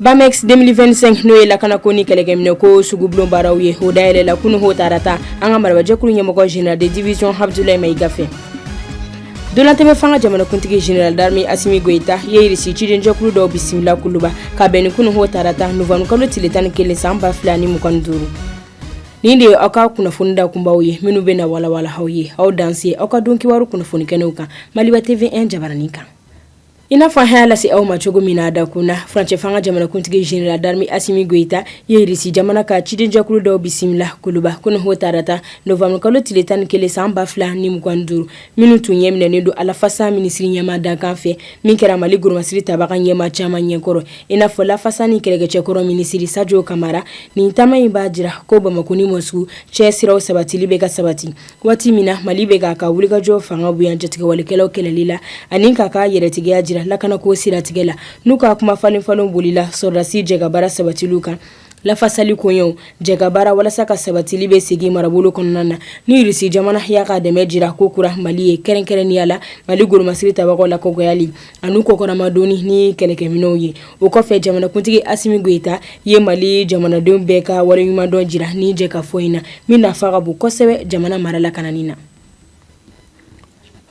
Bamex 2025 n'o ye lakana ko ni kɛlɛkɛminɛ ko sugubulon baaraw ye o dayɛlɛla kunu ho tarata an ka marabajɛkulu ɲɛmɔgɔ general de division Abdoulaye Mayiga fɛ dolatɛmɛ fanga jamanakuntigi general d'armée Assimi Goïta ye irisi cidenjɛkulu dɔw bisimila kuluba ka bɛn ni kunu ho tarata novembre kalo tile tan ni kelen san ba fila ni mugan ni duuru nin de ye aw ka kunnafoni dakunbaw ye minnu bɛ na walawala aw ye aw danse aw ka don kibaru kunnafoni kɛnɛw kan maliba tv 1 jabaranin kan I n'a fɔ an y'a lase aw ma cogo min na dakun na furancɛ fanga jamanakuntigi general d'armée Assimi Goïta ye irisi jamana ka cidenjɛkulu dɔw bisimila kuluba kunu ho tarata novembre kalo tile tan ni kelen san ba fila ni mugan duuru minnu tun ɲɛminɛnen don a lafasa minisiri ɲɛmaa dankan fɛ min kɛra mali golomasiri tabaga ɲɛmaa caman ɲɛ kɔrɔ i n'a fɔ lafasa ni kɛlɛkɛcɛkɔrɔ minisiri Sadio Camara nin taama in b'a jira ko bamakɔ ni Moscou cɛsiraw sabatili bɛ ka sabati Waati min na mali bɛ k'a ka wulikajɔ fanga bonya jatigɛwalekɛlaw kɛlɛli la ani k'a ka yɛrɛtigiya jira lakanako siratigɛ la n'u ka kuma falenfalen bolila sɔrɔdasi jɛkabaara sabatili kan lafasali koɲɛw jɛkabaara walasa ka sabatili bɛ segin marabolo kɔnɔna na ni irisi jamana y'a ka dɛmɛ jira ko kura mali ye kɛrɛnkɛrɛnnenya la mali golomasiri tabagaw lakɔgɔyali ani u kɔkɔrɔmadonni ni kɛlɛkɛminɛw ye o kɔfɛ jamanakuntigi asimi goyita ye mali jamanadenw bɛɛ ka waleɲumandɔn jira nin jɛkafɔ in na min nafa ka bon kosɛbɛ jamana mara lakanani na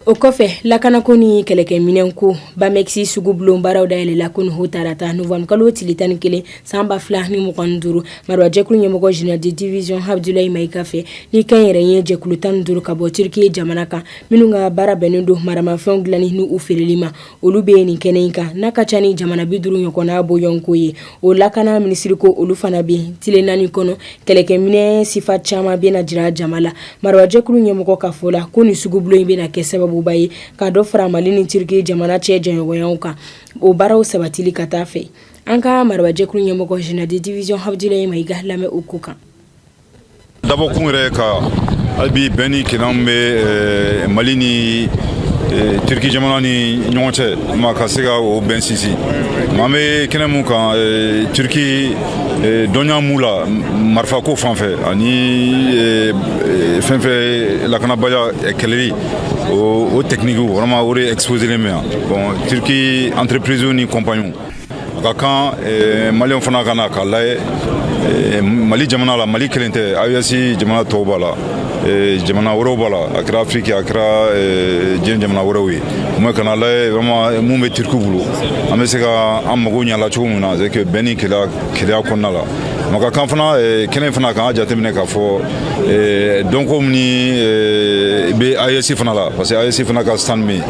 o kɔfɛ lakanako ni kɛlɛkɛminɛ ko Bamex sugubulon baaraw dayɛlɛla kunu ho tarata novembre kalo tile tan ni kelen san ba fila ni mugan duuru marabajɛkulu ɲɛmɔgɔ general de division Abdoulaye Mayiga fɛ ni kɛnyɛrɛye jɛkulu tan duuru ka bɔ turiki jamana kan minnu ka baara bɛnnen don maramafɛnw dilanni ni u feereli ma olu bɛ nin kɛnɛ in kan n'a ka ca ni jamana bi duuru ɲɔgɔnna bɔɲɔnko ye o lakana minisiri ko olu fana bɛ yen tile naani kɔnɔ kɛlɛkɛminɛ sifa caman bɛna jira jama la marabajɛkulu ɲɛmɔgɔ ka fɔ la ko nin sugubulon in bɛna kɛ sababuba ye ka dɔ fara mali ni turiki jamana cɛ jɛɲɔgɔnyaw kan o baaraw sabatili ka taa fɛ an ka marabajɛkulu ɲɛmɔgɔ general de division Abdoulaye Mayiga lamɛn o ko kan Dabɔ kun yɛrɛ ka hali bi bɛn ni kelenya min bɛ eh, mali ni eh, turiki jamana ni ɲɔgɔn cɛ maa ka se ka o bɛn sinsin an bɛ kɛnɛ min kan eh, turiki dɔnniya m'u la marifako fan fɛ ani fɛn fɛn lakanabaliya kɛlɛli o o tɛkinikiw vraiment o de exposelen bɛ yan bon turiki entreprise ni kɔnpaniw a ka kan eh, maliyɛnw fana ka na k'a layɛ eh, mali jamana la mali kelen tɛ AES jamana tɔw b'a la eh, jamana wɛrɛw b'a la a kɛra afiriki a kɛra diɲɛ jamana wɛrɛw ye mɔgɔ ka na a layɛ vraiment mun bɛ turikiw bolo an bɛ se ka an mago ɲa a la cogo min na c'est que bɛn ni kelenya kɔnɔna la maa ka kan fana kɛnɛ fana k'an ka jateminɛ k'a fɔ dɔnko min ni bɛ AES fana la parce que AES fana ka stand bɛ yen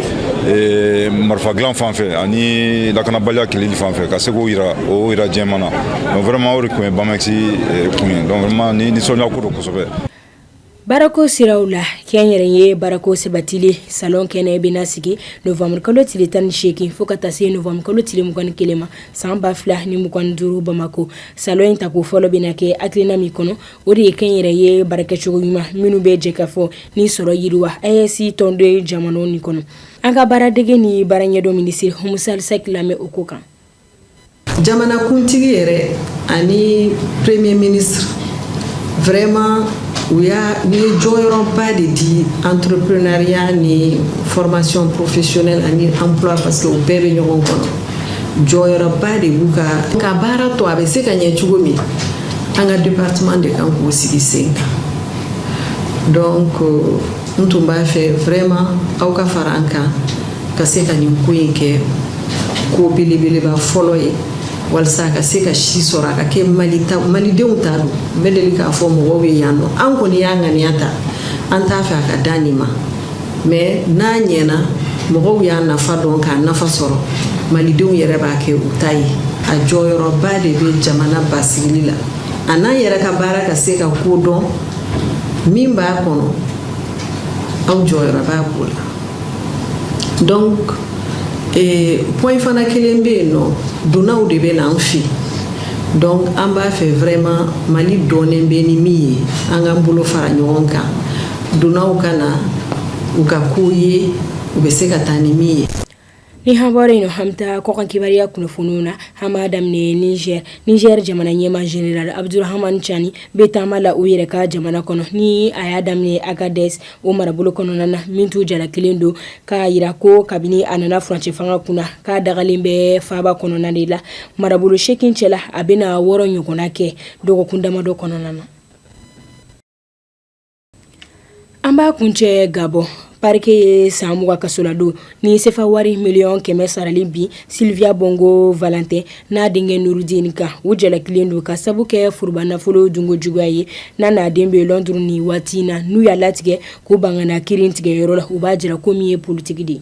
Ee, marifa dilan fan fɛ ani lakanabaliya kɛlɛli fan fɛ ka se k'o yira o yira jɛman na donc vraiment o de tun ye bamɛkisi eh, kun ye donc vraiment ni nisɔndiya ko don kosɛbɛ baarako siraw la kɛnyɛrɛye baarako sabatili salon kɛnɛ bɛna sigi novembre kalo tile tan ni seegin fo ka taa se novembre kalo tile mugan ni kelen ma san ba fila ni mugan ni duuru bamako salon in tako fɔlɔ bɛna kɛ hakilina min kɔnɔ O de ye kɛnyɛrɛye baarakɛcogo ɲuman minnu bɛ jɛkafɔ ni sɔrɔ yiriwa a ye si tɔnondo ye jamana nin kɔnɔ an ka baaradege ni baaraɲɛdɔn minisiri umu sali sɛki lamɛn o ko kan jamanakuntigi yɛrɛ ani premier ministre vraiment u ye jɔyɔrɔba de di entrepreneuriat ni formation professionnelle ani emploi parce que u bɛɛ bɛ ɲɔgɔn kɔnɔ jɔyɔrɔba de b'u ka ka baara to a bɛ se ka ɲɛ cogo min an ka département de kan k'o sigi sen kan donc n tun b'a fɛ vraiment aw ka fara an kan ka se ka nin ko in kɛ ko belebeleba fɔlɔ ye walisa a ka se ka si sɔrɔ a ka kɛ malidenw ta don n bɛ deli k'a fɔ mɔgɔw ye yan nɔ an kɔni y'a ŋaniya ta an t'a fɛ a ka dan nin ma mais n'a ɲɛna mɔgɔw y'a nafa dɔn k'a nafa sɔrɔ malidenw yɛrɛ b'a kɛ u ta ye a jɔyɔrɔba de bɛ jamana basigili la a n'an yɛrɛ ka baara ka se ka ko dɔn min b'a kɔnɔ aw jɔyɔrɔ b'a ko la donc eh, point fana kelen bɛ yen nɔ dunanw de bɛ na an fɛ donc an b'a fɛ vraiment mali dɔnnen bɛ ni min ye an k'an bolo fara ɲɔgɔn kan Dunanw ka na u ka ko ye u bɛ se ka taa ni min ye ni hɔn in hami kɔkan kibaruya kunnafoniw na an b'a daminɛ ni nizɛri jamana ɲɛmaa général abudurahamani cani bɛ taama la u yɛrɛ ka jamana kɔnɔ ni a y'a daminɛ agadɛsi o marabolo kɔnɔna na min tun jalakilen don k'a jira ko kabini a nana furancɛ fanga kun na k'a dagalen bɛ faaba kɔnɔna de la marabolo seegin cɛla a bɛna na wɔɔrɔ ɲɔgɔn kɛ dɔgɔkun damadɔ kɔnɔna na an b'a kuncɛ gabɔn parquet ye san mugan kasoladon ni sefa wari miliyɔn kɛmɛ sarali bin silviya bɔngo valantɛn n'a denkɛ nurudini kan u jalakilen don ka sabu kɛ foroba nafolo dunko juguya ye n'a n'a den bɛ lɔnduru nin waati na n'u y'a latigɛ k'u ban ka na kiritigɛyɔrɔ la u b'a jira ko min ye politiki de ye